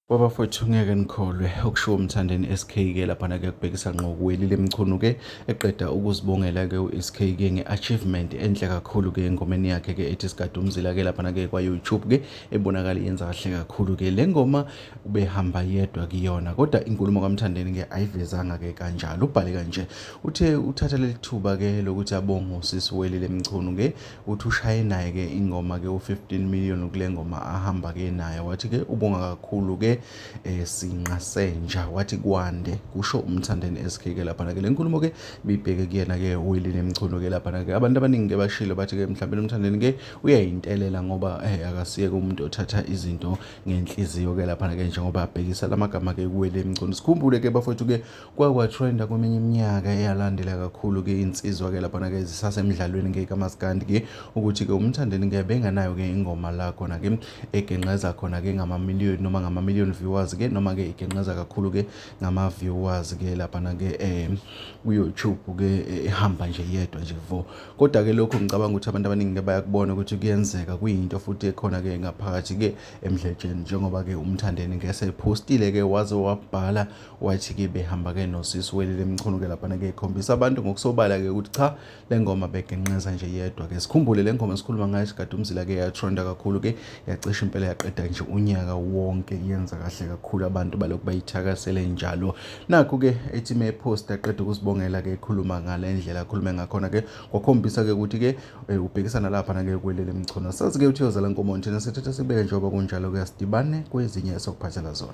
Baba fethu ngeke nikholwe okushiwo umthandeni SKK lapha na kuyakubhekisa ngqo kuweli lemchunu ke eqeda ukuzibongela ke uSKK ngeachievement enhle kakhulu ke engomeni yakhe ke ethi sigade umzila ke lapha na ke kwa YouTube ke ebonakala yenza kahle kakhulu ke lengoma ubehamba yedwa kuyona kodwa inkulumo kamthandeni ke ayivezanga ke kanjalo ubhale kanje uthe uthatha lelithuba ke lokuthi abonge usisi weli lemchunu ke uthi ushaye naye ke ingoma ke u15 million kule ngoma ahamba ke naye wathi ke ubonga kakhulu ke eh, sinqa senja wathi kwande kusho umthandeni SK ke lapha ke lenkulumo ke bibheke kuyena ke uyili nemchuno ke lapha ke abantu abaningi ke bashilo bathi ke mhlawumbe umthandeni ke uyayintelela ngoba eh akasiyeke umuntu othatha izinto ngenhliziyo ke lapha ke njengoba abhekisa lamagama ke kuwele emcuno sikhumbule ke bafowethu ke kwakwatrenda kweminye iminyaka eyalandela kakhulu-ke insizwa-ke laphana-ke zisasemdlalweni-ke kamaskandi-ke ukuthi-ke umthandeni-ke benganayo-ke ingoma la khona-ke egenqeza khona-ke ngamamiliyoni noma ngamamiliyoni viewers-ke noma-ke igenqeza kakhulu-ke ngama-viewers-ke laphana-ke um kuyoutube-ke ehamba nje yedwa nje vo kodwa-ke lokho ngicabanga ukuthi abantu abaningi-ke bayakubona ukuthi kuyenzeka kuyinto futhi ekhona-ke ngaphakathi-ke emdletsheni njengoba-ke umthandeni-ke sephostile-ke waze wabhala wathi-ke behamba-ke nosisi welile mchunu-ke laphana-ke ikhombisa abantu ngokusobala-ke ukuthi cha le ngoma begenqeza nje yedwa-ke sikhumbule le ngoma esikhuluma ngayo sikade umzila-ke yatronda kakhulu-ke yacisha impela yaqeda nje unyaka wonke yenza kahle kakhulu abantu balokhu bayithakasele njalo nakho-ke ethi mephosta qeda ukusibongela-ke ekhuluma ngale ndlela akhulume ngakhona-ke kwakhombisa-ke ukuthi-ke eh, ubhekisana laphana-ke kwelele mchunu sazi-ke ukuthi yozala nkomo nthina sithatha sibeke njengoba kunjalo-ke asidibane kwezinye esokuphathela zona